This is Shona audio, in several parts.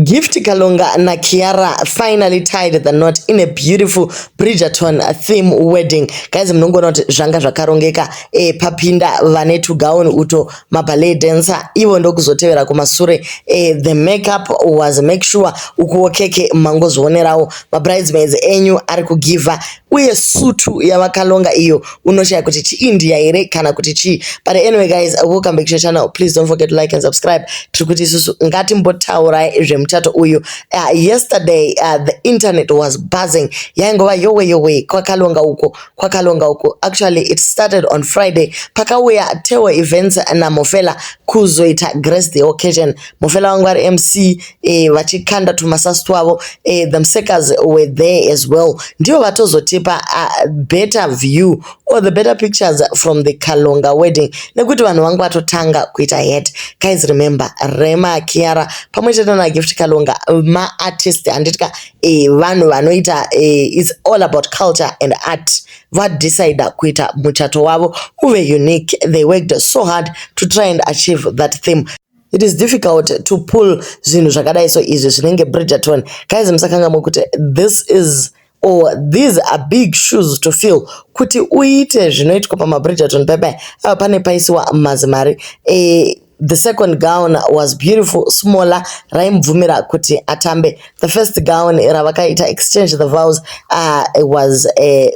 Gift Kalunga naKiara finally tied the knot in a beautiful Bridgerton theme wedding. Guys munongoona kuti zvanga zvakarongeka e, papinda vane tugauni uto maballet dancer ivo ndokuzotevera kumasure e, the makeup was make sure ukuwo keke mangozvionerawo mabridesmaids enyu ari kugiva uye sutu yavakalonga iyo unoshaya kuti chiindia here kana kuti chii but anyway guys welcome back to your channel please don't forget to like and subscribe tiri kuti isusu ngatimbotaurai zvemuchato uyu uh, yesterday uh, the internet was buzzing yaingova yowe yowe kwakalonga uko kwakalonga uko actually it started on friday pakauya teo events namofela kuzoita grace the occasion mofela wangu ari mc eh, vachikanda tumasasi twavo eh, the msekas were there as well ndivo vatozotipa uh, better view or the better pictures from the kalonga wedding nekuti vanhu vangu vatotanga kuita het guys remember rema kiara pamwe chete nagift kalonga maartist handitya eh, vanhu vanoita eh, its all about culture and art vadecida kuita muchato wavo uve unique they worked so hard to try and achieve that theme It is difficult to pull zvinhu zvakadai so izvi zvinenge Bridgerton. Guys musakangamwe kuti this is or these are big shoes to fill kuti uite zvinoitwa pamaBridgerton bebe ava pane paisiwa mazimari e, the second gown was beautiful smaller raimubvumira kuti atambe the first gown ravakaita exchange the vows uh, was a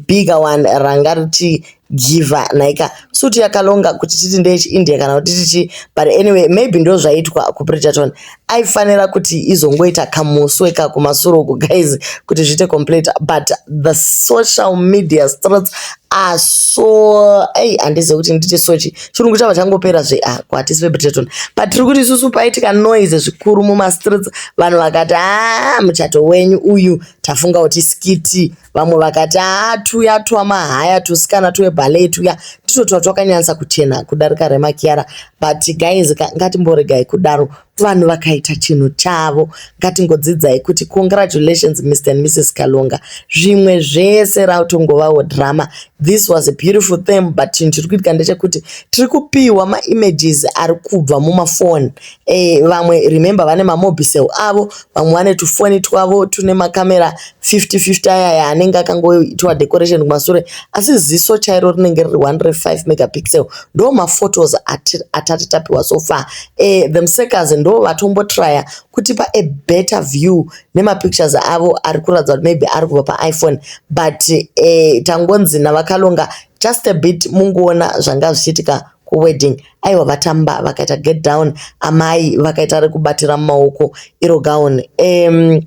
bigger one ranga richi Giver nhaika suit yakalonga kuti titi ndechi India kana kuti tichi but anyway maybe ndozvaitwa ku Bridgerton aifanira kuti izongoita kamuswe ka kumasure uku guys kuti zviite complete but the social media streets are so ei handizive kuti nditi sochi chirungu chava changopera zve ah, ko hatisi vebridgerton but tiri kuti isusu paitika noise zvikuru mumastreets vanhu vakati haa ah, muchato wenyu uyu tafunga kuti skiti vamwe vakati haa tuya twamahaya tusikana tweballet tuya nditwo twatwakanyanyisa kuchena kudarika remakiyara but guys ngatimboregai kudaro vanhu vakaita chinhu chavo ngatingodzidzai kuti congratulations mr and mrs kalonga zvimwe zvese rautongovawo drama this was a beautiful theme but chinhu chiri kuitika ndechekuti tiri kupiwa maimages ari kubva mumafoni Eh, vamwe remember vane mamobicel avo vamwe vane tufoni twavo tune makamera 5050 ayaya anenge akangoitwa decoration kumasure asi ziso chairo rinenge riri 105 megapixel ndo maphotos atati tapiwa so far eh, themsakers ndo vatombotrya kutipa a better view nemapictures avo ari kuratidza kuti maybe ari kubva paiphone but eh, tangonzi navakalonga just a bit mungoona zvanga zvichiitika kuwedding aiwa vatamba vakaita get down amai vakaita rekubatira mumaoko iro gown um,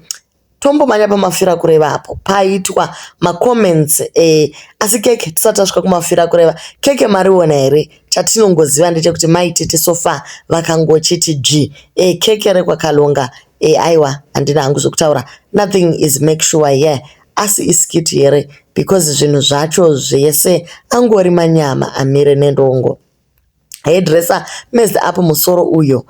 tombomanya pamafira kureva apo paitwa macomments eh, asi keke tisati tasvika kumafira kureva keke mariona here chatinongoziva ndechekuti maitete sofa vakangochiti dzvi eh, keke rekwakalonga eh, aiwa handina hangu zvekutaura nothing is make sure here yeah. Asi iskit here because zvinhu zvacho zvese angori manyama amire nendongo. Hairdresser messed up musoro uyo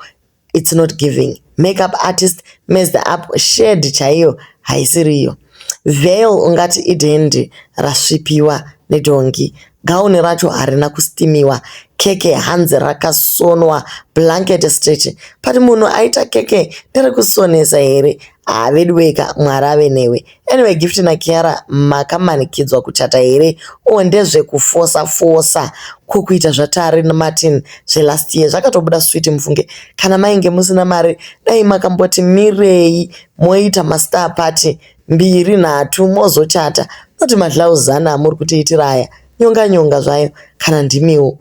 it's not giving. Makeup artist messed up shade chaiyo haisiriyo. Veil ungati idhendi rasvipiwa nedhongi. Gown racho harina kustimiwa keke hanzi rakasonwa blanket stretch but munhu aita keke nerekusonesa here haa veduweka mwari ave newe anyway gift nakiara makamanikidzwa kuchata here o ndezvekufosa fosa ko kuita zvatari martin zvelast year zvakatobuda switi mufunge kana mainge musina mari dai makamboti mirei moita mastar party mbiri nhatu mozochata not madlouse zana amuri kutiitira aya nyonga nyonga zvayo kana ndimiwo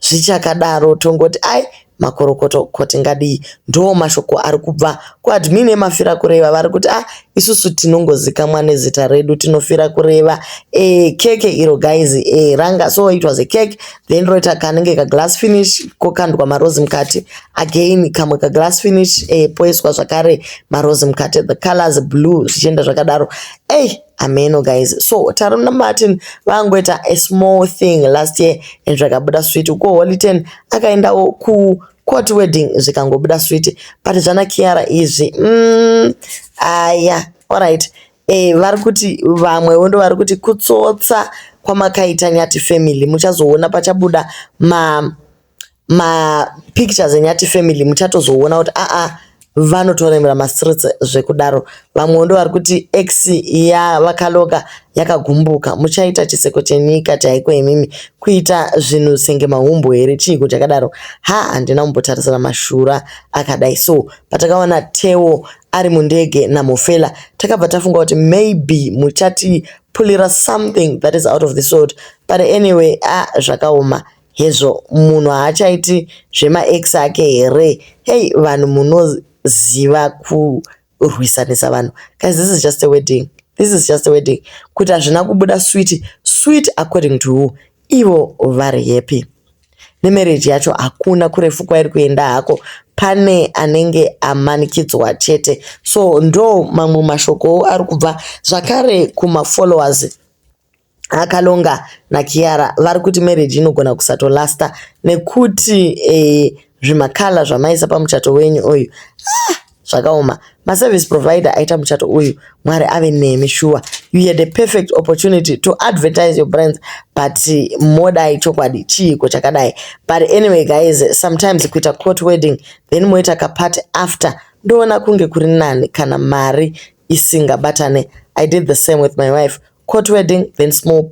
zvichakadaro tongoti ai makorokoto koti ngadii ndoo mashoko ari kubva kuadmin emafira kureva vari kuti ah isusu tinongozikamwa nezita redu tinofira kureva e keke iro guys e ranga so it was a cake then roita kanenge kaglass finish kokandwa marozi mukati again kamwe kaglass finish eh, poiswa zvakare marozi mukati the colors blue zvichienda zvakadaro ey hey, ameno guys so tarona martin vangoita a small thing last year and zvakabuda sweet uko holy ten akaendawo ku court wedding zvikangobuda sweet but zvana kiara izvi mm, aya ah, yeah. alright Eh, vari kuti vamwewo ndo vari kuti kutsotsa kwamakaita nyati family muchazoona pachabuda ma ma pictures enyati family muchatozoona kuti aa ah, ah, vanotoremera mastreets zvekudaro vamwewo ndo vari kuti x ya vakaloka yakagumbuka muchaita chiseko chenyika chaiko imimi kuita zvinhu senge mahumbu here chiiko chakadaro ha handina kumbotarisira mashura akadai so patakaona tewo ari mundege naMofela takabva tafunga kuti maybe muchati pulira something that is out of the sort but anyway a ah, zvakaoma hezvo munhu haachaiti zvemaex ake here hei vanhu munoziva kurwisanisa vanhu guys this is just a wedding this is just a wedding kuti hazvina kubuda swit swit according to who ivo vari happy nemarriage yacho hakuna kurefu kwairi kuenda hako pane anenge amanikidzwa chete so ndo mamwe mashokowo ari kubva zvakare kumafollowers akalonga nakiara vari kuti marriage inogona kusatolasta nekuti eh, zvimakala zvamaisa pamuchato wenyu uyu ah! Zvakaoma. Ma service provider aita muchato uyu Mwari ave nemi shuwa. You had a perfect opportunity to advertise your brands but modai chokwadi chiiko chakadai. But anyway guys sometimes kuita court wedding then moita ka party after ndoona kunge kuri nani kana mari isingabatane. I did the same with my wife. Court wedding then small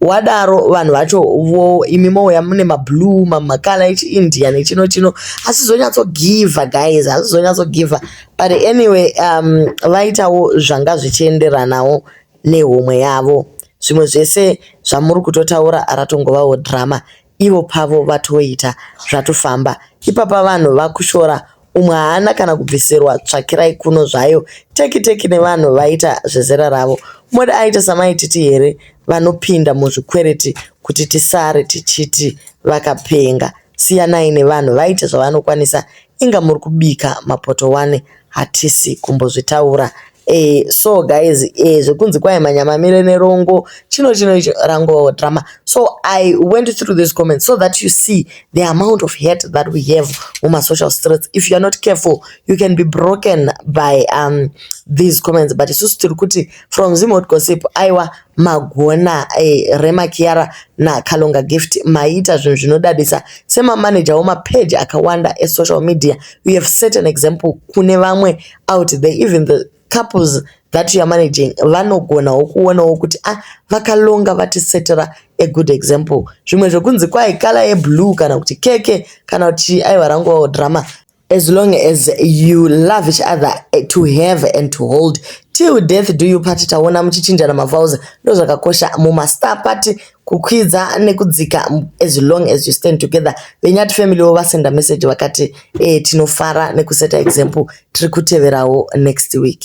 wadaro vanhu vacho vo imi mouya mune mablue mamakala echiindia nechino chino hasizonyatsogivha guys hasizonyatsogivha but anyway um, vaitawo zvanga zvichienderanawo nehomwe yavo zvimwe zvese zvamuri kutotaura ratongovawo drama ivo pavo vatoita zvatofamba ipapa vanhu vakushora umwe haana kana kubvisirwa tsvakirai kuno zvayo teki teki nevanhu vaita zvezera ravo mode aita samaititi here vanopinda muzvikwereti kuti tisare tichiti vakapenga siyanai nevanhu vaite zvavanokwanisa inga muri kubika mapoto wane hatisi kumbozvitaura Eh, so guys eh, zvekunzi kwai manyamamire nerongo chino chino icho rango drama so i went through this comment so that you see the amount of hate that we have muma social streets if you are not careful you can be broken by um, these comments but isusu tiri kuti from zimot gossip aiwa magona eh, rema kiara nakalonga gift maita zvinhu zvinodadisa semamanager wemapeji akawanda esocial media you have set an example kune vamwe out there even the couples that you are managing vanogonawo kuonawo kuti ah vakalonga vatisetera a good example zvimwe zvekunzi kwai kala yeblue kana kuti keke kana kuti aiwa rangovawo drama as long as you love each other eh, to have and to hold till death do you party taona muchichinjana mavowels ndozvakakosha mumastar party kukwidza nekudzika as long as you stand together venyati family wo vasenda message vakati eh, tinofara nekuseta example tiri kuteverawo next week